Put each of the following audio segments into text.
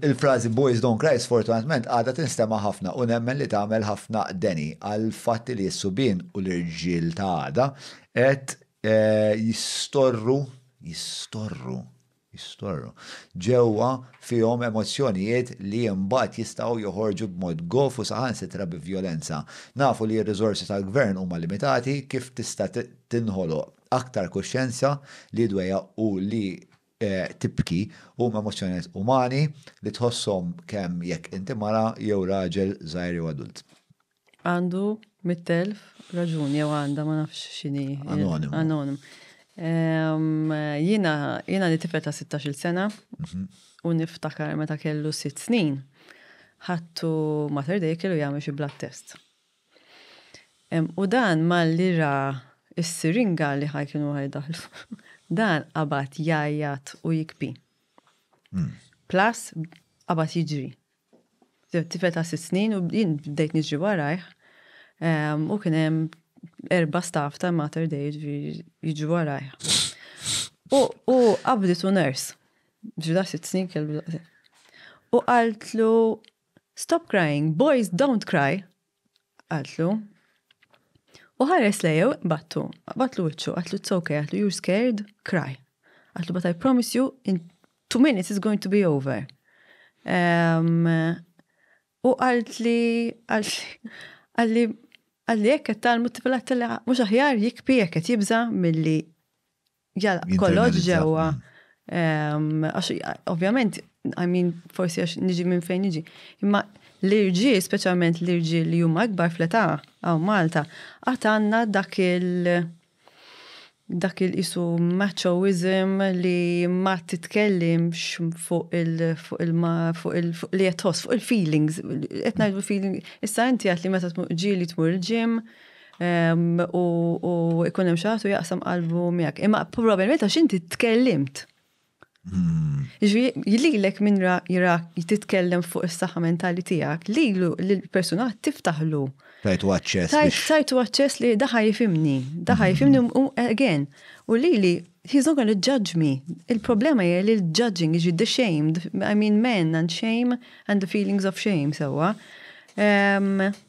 Il-frażi Boys Don't Cry sfortunatament għadha tinstema' ħafna u nemmen li tagħmel ħafna deni għall-fatt li s-subien u l-irġiel ta' għada qed jistorru, jistorru, jistorru, ġewwa fihom emozzjonijiet li imbagħad jistgħu joħorġu b'mod gof u saħansitra bi vjolenza. Nafu li r-riżorsi tal-Gvern huma limitati, kif tista' tinħoloq aktar kuxjenza li dwejjaq u li tibki huma emozzjonijiet umani li tħosshom kemm jekk inti mara jew raġel żgħir jew adult. Għandu mitt elf raġuni jew għandha ma nafx x'inhi. Anonimu. Anonimu. Ehm, jiena jiena li tifel ta' 16-il sena mhm. u niftakar meta kellu sitt snin ħattu Mater Dei kellu jagħmel xi blood test. U dan malli ra s-siringa li ħaj kienu ħaj daħlu, dan qabat jajjat u jikbi. Hmm. Plus, qabat jiġri. Tifel ta' sitt snin u jien bdejt niġri warajh u kien hemm erba' staff ta' Mater Dei jiġri warajh. U qabditu nurse. Ġuda sitt snin kellu U qaltlu Stop crying, boys don't cry, qaltlu. U ħares lejha u qbattu, qbatlu wiċċu, qaltlu it's okay, qaltlu you're scared, cry. Qaltlu but I promise you in two minutes it's going to be over. Um, u għalt li, għalt li, għalt li, għalt li jekk tal-multipilat li mux aħjar jikpi jekk jibza mill-li Jalla, kollox ġewwa. Għax, ovvjament, I mean, forsi għax niġi minn fejn niġi. Imma l-irġi, specialment l-irġi li huma akbar fleta għaw Malta, għat għanna dak il- dak il-isu machoism li ma titkellimx fuq il- fuq il- fuq il- fuq li jatħos, fuq il-feelings. Etna il-feeling, issa inti għat li meta tmur ġili tmur il-ġim, u ikun hemm xaħtu jaqsam qalbu miegħek. Imma probabbilment għax inti tkellimt. Hmm. Ġifieri lek minn jirak jititkellem fuq is-saħħa mentali tiegħek, lilu l-persuna tiftaħlu. Tajtu aċċess. Tajtu aċċess li daħaj jifimni, daħaj hmm. jifimni u again. U lili he's not gonna judge me. Il-problema hija li l-judging is the shamed. I mean men and shame and the feelings of shame sewa. So, um,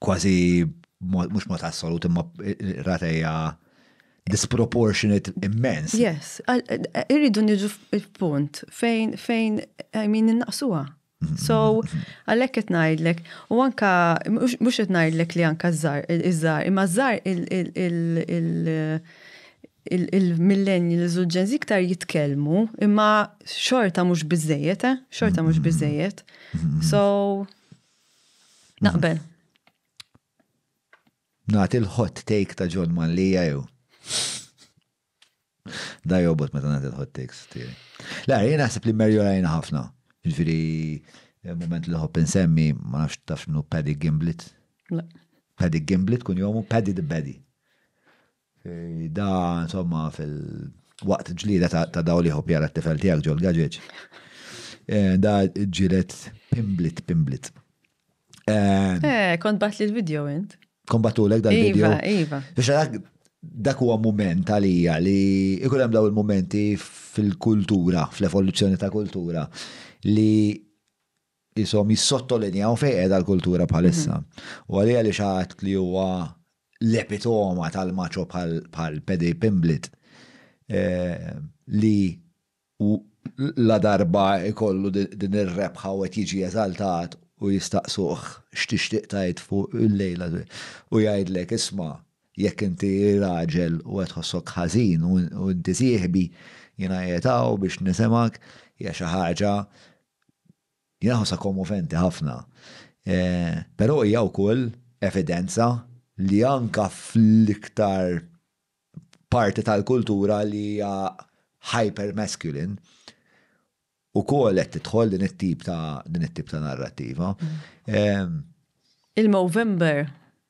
kważi mhux mod assolut imma rata hija disproportionate immens. Yes, irridu niġu f'punt fejn fejn I mean innaqsuha. So, għalhekk qed ngħidlek, u anka mhux qed ngħidlek li anka żar iż-żar, imma żar il-millennials u l-ġenzi iktar jitkellmu, imma xorta mhux biżejjed, eh? Xorta mhux biżejjed. So, Naqbel. Nagħti l-hot take ta' John Mallija jew. Da jobot meta nagħti l-hot takes tiegħi. La, jien naħseb li Merjo rajna ħafna. Ġifieri eh, moment li ħobb insemmi ma nafx taf minnu Paddy Gimblet. Paddy Gimblet kun jomu Paddy the Baddy. Da, insomma, fil-waqt ġlida ta' daw li ħob jara t-tifel tijak ġol gaġeġ. Eh, da ġilet pimblit, pimblit. Eh, eh kont bat li l-video int. Kont batu l-ek dal-video. Iva, iva. Biex għadak, dak huwa moment għalija li ikun hemm daw il-momenti fil-kultura, fl-evoluzzjoni ta' kultura, li qishom jissottolinjaw fejn qiegħda l-kultura bħalissa. U għalija li xi ħadd li huwa l-epitoma tal-macho bħal Paddy Pimblett li ladarba jkollu din ir-rebħa u qed jiġi eżaltat u jistaqsuh x'tixtieq tgħid fuq il-lejla u jgħidlek isma' jekk inti raġel u qed tħossok ħażin u inti sieħbi jiena qiegħed hawn biex nisimgħek hija xi ħaġa Hija ħaġa kommoventi ħafna. Però hija wkoll evidenza li anke fl-iktar parti tal-kultura li hija hyper-masculine, ukoll qed tidħol din it-tip ta' narrattiva. Il-Movember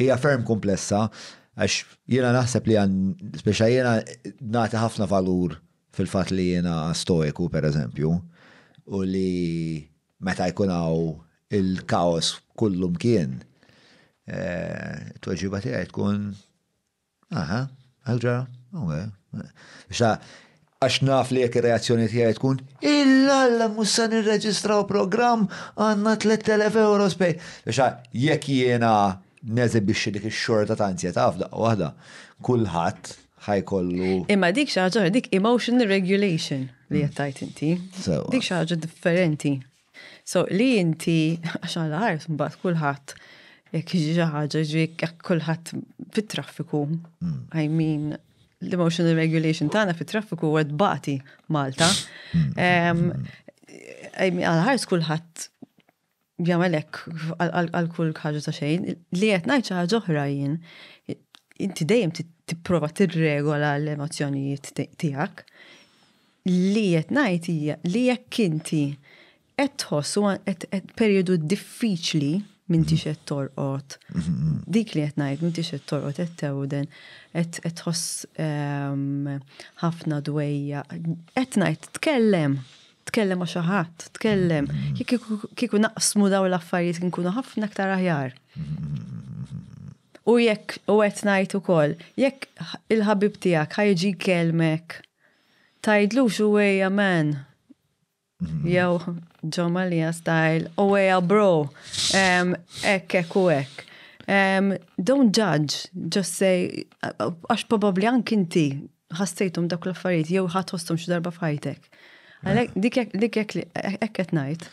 Hija ferm komplessa għax jiena naħseb li għan, speċa jiena nagħti ħafna valur fil-fatt li jiena stoiku pereżempju u li meta jkun hawn il-kaos kullu mkien, it-tweġiba tiegħi tkun Aha, għal ġara, Xa, għax naf li jekk ir-reazzjoni tiegħi tkun, illa alla mhux se nirreġistraw programm għandna 3,000 euro spej. Xa, jekk jiena neżibixxi dik ix-xorta ta' anzjetà f'daqqa waħda, kulħadd ħa jkollu. Imma dik xi ħaġa oħra, dik emotional regulation li qed tgħid inti. Dik xi ħaġa differenti. So li inti għax għal art mbagħad kulħadd jekk jiġi xi ħaġa ġiek kulħadd fit-traffiku. Hmm. I mean l-emotional regulation tagħna fit-traffiku huwa tbati Malta. Hmm. Għal art kulħadd jagħmel hekk għal kull ħaġa ta' xejn li qed ngħid xi ħaġa oħra jien inti dejjem tipprova tirregola l-emozzjonijiet tiegħek. Li qed ngħid hija li jekk inti qed tħoss u qed perjodu diffiċli m'intix qed torqod. Dik li qed ngħid m'intix qed torqod qed tewden, qed tħoss ehm, ħafna dwejja. Qed ngħid tkellem, tkellem ma' xi ħadd, tkellem. Kieku naqsmu daw l-affarijiet nkunu ħafna aktar aħjar. U jekk u qed ngħid ukoll, jekk il-ħabib tiegħek ħajġi kelmek Tgħidlux uwejja man. Mhm. Jew John Malia style, uwejja bro. Ekk, ekk u ekk. Don't judge, just say, għax probabli anki inti ħassejtum dak l-affarijiet jew ħadd ħostum xi darba f'ħajtek. Għalhekk dik hekk qed ngħid.